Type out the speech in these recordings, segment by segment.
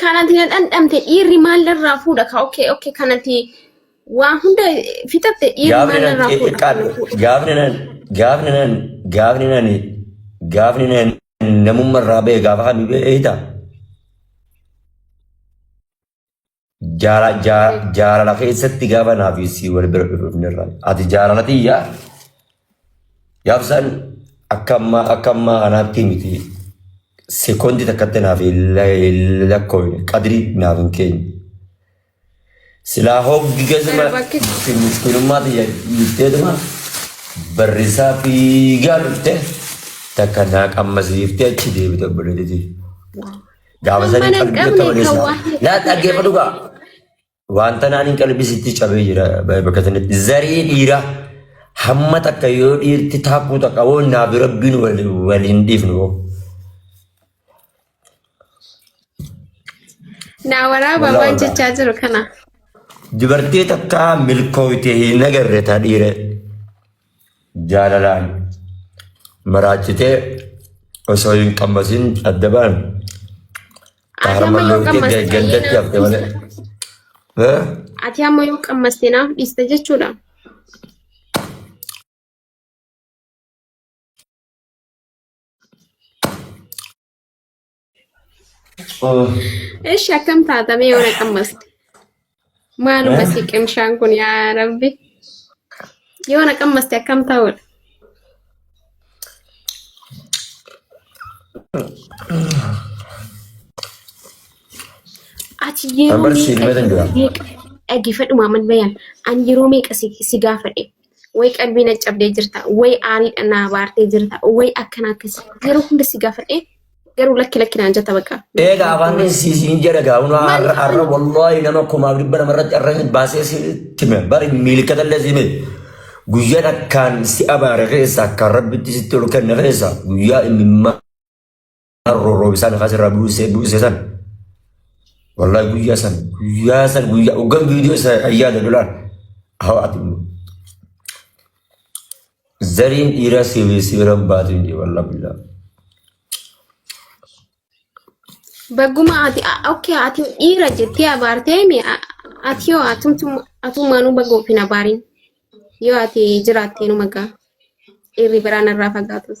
Kanati na dhandhamte dhiirri maal irraa fuudha ka okay okay kanati waa hunda fixatte dhiirri Gaafni maal nan irraa fuudha kan na xiqqaadha. fuudha. Gaafni nan gaafni nan gaafni nan gaafni nan namummaa irraa ba'e gaafa kan beektaa? Jaala- jaa- Jaalala keessatti gaafa naaf sii wal bira dhufnirra. Ati jaalala tiyyaa gaafsan akka ammaa akka ammaa kanaatti miti. Sekondi takkatti naaf hin la- hin lakkoofne qadrii naaf hin keenye. Silaa hoggi keessuma Bakki- miskinummaa tiyya dhiifteetuma barrisaa fiigaa dhufte takka naa qammasiiftee achi deebite obboleettii. Gaafa Kan sanii mana hin qalbii qabne qabane kan waa hin laa qabne dhaggeeffadhu gaa. Wanta naan hin qalbisitti cabee jira bakka sanatti. Zaree dhiira hamma takka yoo dhiirti taakkuu takka woo naa bira binu wal hin dhiifnu woo. Naa waraabaa Walaa waan walaa. jechaa jiru kana. Dubartii takka milkooyte hin agarre taa dhiira. jaalalaan maraachitee osoo hin qammasin adda ba'an. Harma yoo qammaste gandatti hafte malee. Eh? Ati amma yoo qammaste naaf dhiista jechuudha. Ishi akkam taata mee yoo na qammaste? Maaluma si qimshaan kun yaa rabbi. Yoo na qammaste akkam ta'udha? Ati yeroo Ambar si meeqa himatan jira. meeqa dhaggeeffadhu Maamad Bayaan an yeroo meeqa si si gaafadhe Way qalbii na cabdee jirta. Way aariidha na abaartee jirta. Way akkana akkas. Yeroo hunda si gaafadhee garuu lakki lakki naan jetta bakka. Eega afaan keessi siin jedha gaa huna har'a har'a wallaahi nama kumaaf dhibba nama irratti har'a hin baasee si time bari miilkata illee si miti. Guyyaa takkaan si abaare keessa akkaan rabbitti sitti ol kenne keessa guyyaa inni Harroo roobisaan lafaa sirraa buusee buusee san. Wallahi guyyaa san guyyaa san guyyaa hoggan viidiyoo isa ayyaada lolaan. Haa ati zariin dhiiraa sibiir sibiiran baatu hin jiru wallahi billaa. Bagguma ati okkee ati dhiira jettee abaartee mi ati yoo atummaanuu baga ofiin abaariin yoo ati jiraattee nu magaa dhiirri biraan irraa fagaatus.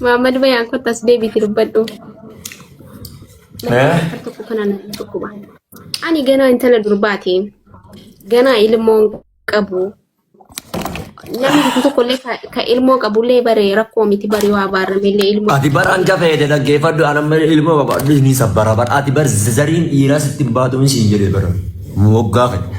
Maamad bayaan kottu as deebiiti dubbadhu. Eh? Akka tokko kana na dhukkuba. Ani ganaa intala durbaati. Ganaa ilmoon qabu. Namni tokko tokko illee ka- ka ilmoo qabu illee bare rakkoo miti bari waa baarame illee ilmoo. Ati bar hanga fayyade dhaggeeffadhu an amma ilma babaadhu ni sabbara bar ati bar zariin dhiiraa sitti hin baatu hin siin jedhee bara moggaa fayyada.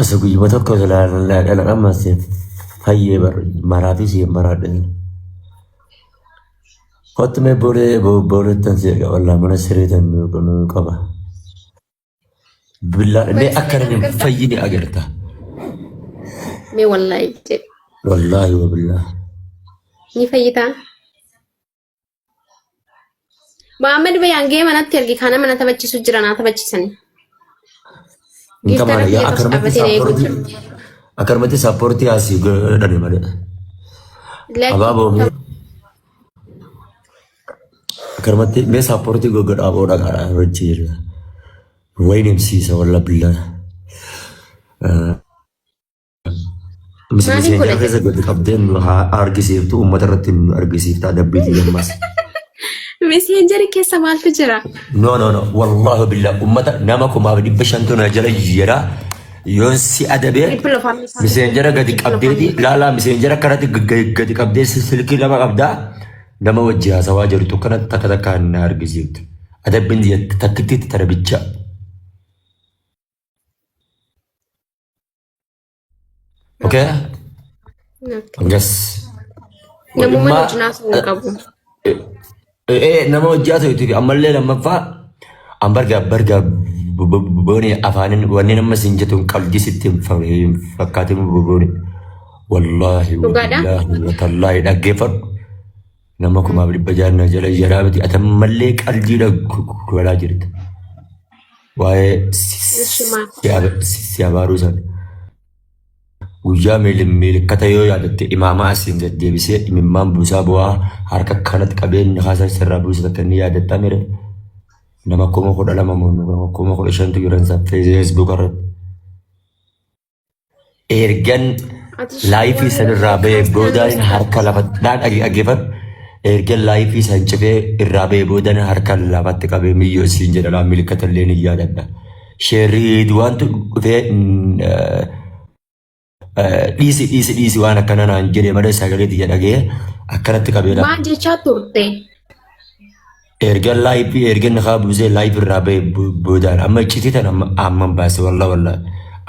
Asa guyyuma tokko silaalaa dhalaqama seef fayyee bar maraafii siif maraadhan. Kottu mee boolee booleettan si eega wallaa mana sireetan nu qaba. Billaa mee akka namni hin fayyine agarta. Mee wallaahi jedhe. Wallaahi wa billaa. Ni fayyitaa? Mohaammed Bayaan gee manatti ergi kana mana taphachiisu jira naa taphachiisanii. Hin Giftara tabaale biyya yaa tokko akkanumatti dhaabbatee na eeguu saapportii jira. akkanumatti saapportii asii godhani malee. Lakkii Abaaboo mee akkanumatti mee saapportii goggodha aboo dhagaadha wajji jira. Wayin himsiisa walla billaa. Miseenyaa keessa gadi qabdeen nu haa argisiiftu uummata irratti nu argisiiftaa dabbiitii gammas. Meseenjeri keessa maaltu jira? No no no wallaahi billah uummata nama kumaaf dhibba shantu na jala jijjiira yoon si adabee Dhibbi lafaan isaa- miseenjera gadi dhibbi qabdeeti lafaan- laalaa miseenjera kanatti gadi- gadi qabdee si- silkii lama qabdaa nama wajji haasawaa jirtu kanatti takka takka na argisiiftu adabbiin takkitti tara bichaa. Okay? Yes. Namummaan Imma- hojii naasuu hin qabu. Eh, eh, nama hojjaa ta'etu fi ammallee lammaffaa an barga barga booni afaanin wanneen amma siin jettu hin qabdi sitti hin fa- hin fakkaatin booni wallaahi Dhugaadha? wallaahi watallaahi dhaggeeffadhu Nama kumaaf dhibba jaha na jala jaraa miti ati ammallee qaldiidha godhaa jirta. Waa'ee Ishi maal? si abaaruu sana. Guyyaa milikkata yoo yaadatte imaamaa asiin gad deebisee imimmaan buusaa bu'aa harka kanatti qabeen kaasaa sirraa buusa takka inni yaadatta mire. Nama kuma kudha lama moo nama kuma kudha shantu jiran isaa feesbuuk irratti. ergan laayifii sanirraa ba'ee boodaan harka lafatti dhaan dhaggeeffadhu ergan laayifii san cufee irraa ba'ee boodaan harka lafatti qabee miyyoo siin jedha laa milikkata illee ni yaadadha. Sheerrii duwaantu dhufee dhiisi dhiisi dhiisi waan akkana naan jedhe malee sagalee tiyya dhagee akkanatti qabee Maal jechaa turte? Erga laayip erga nakaa buusee laayip irraa ba'e bo- boodaan amma iccitii tan amma amman baase walla walla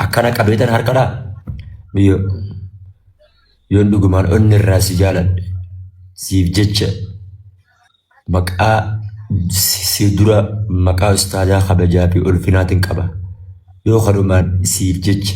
akkana qabee tan harkadhaa biyyo yoon dhugumaan onni irraa si jaaladhe siif jecha maqaa si si dura maqaa ustaadaa kabajaa fi ulfinaatiin qaba yoo kanumaan siif jecha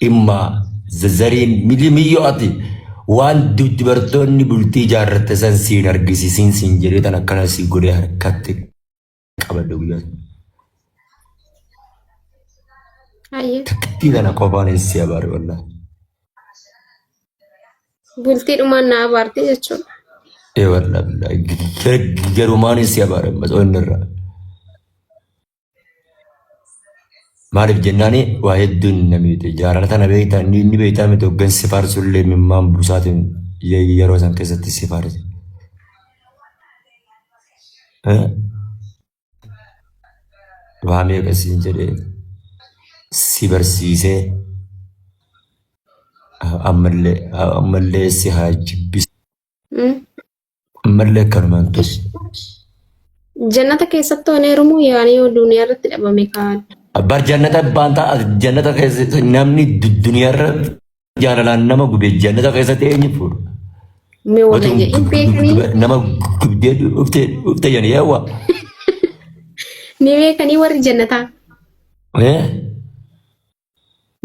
Dhimma zazareen mili miyyoo ati waan dubartoonni bultii ijaarratte san siin argisiisiin siin jedhee tan akkana sii godhee harkatti qabadde guyyaa sana. Hayyee. Takkittii tana qofaan hin si abaare wallah. Bultii dhumaan na abaarte jechuudha. Ee wallah billahi. Garumaan hin si abaare ammas onnirraa. Maaliif jennaan waa hedduun na miite. Jaalala tana beektaa inni inni beektaa miti hoggan si faarsu illee mimmaan buusaatiin ye- yeroo san keessatti si faarse. Eh? Waa meeqa siin jedhee si barsiisee ammallee ammallee si haa jibbisiisu. Mm. Ammallee akkanumaan ta'e. Jannata keessatti waan heerumuu yaanii yoo duniyaa irratti dhabame kaan. Bar jannata baanta jannata keessa namni du- duniyaarra jaalalaan nama gube jannata keessatti eenyu fuudha. Me wala Otuun jedhin gub- gub- beekanii gub- nama gubdee dhufte dhufte jedhanii yaawwa. ni beekanii warri jannataa. Eh?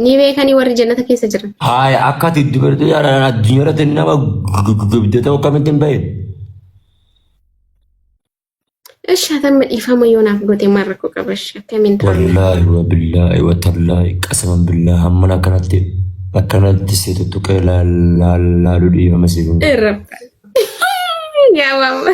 Ni beekanii warri jannata keessa jiran. Haaya akka ati dubartii jaalaan addunyaa irratti nama gubdee ta'u akkamitti hin bahin? Ishi hatamma dhiifama yoo naaf goote maal rakkoo qaba ishi akkamiin ta'a? Wallaahi wa billaahi wa tallaahi qasaman billaahi hamman akkanatti akkanatti si tuttuqee laaluu dhiifama si godhu. Irra. Yaa waawwa.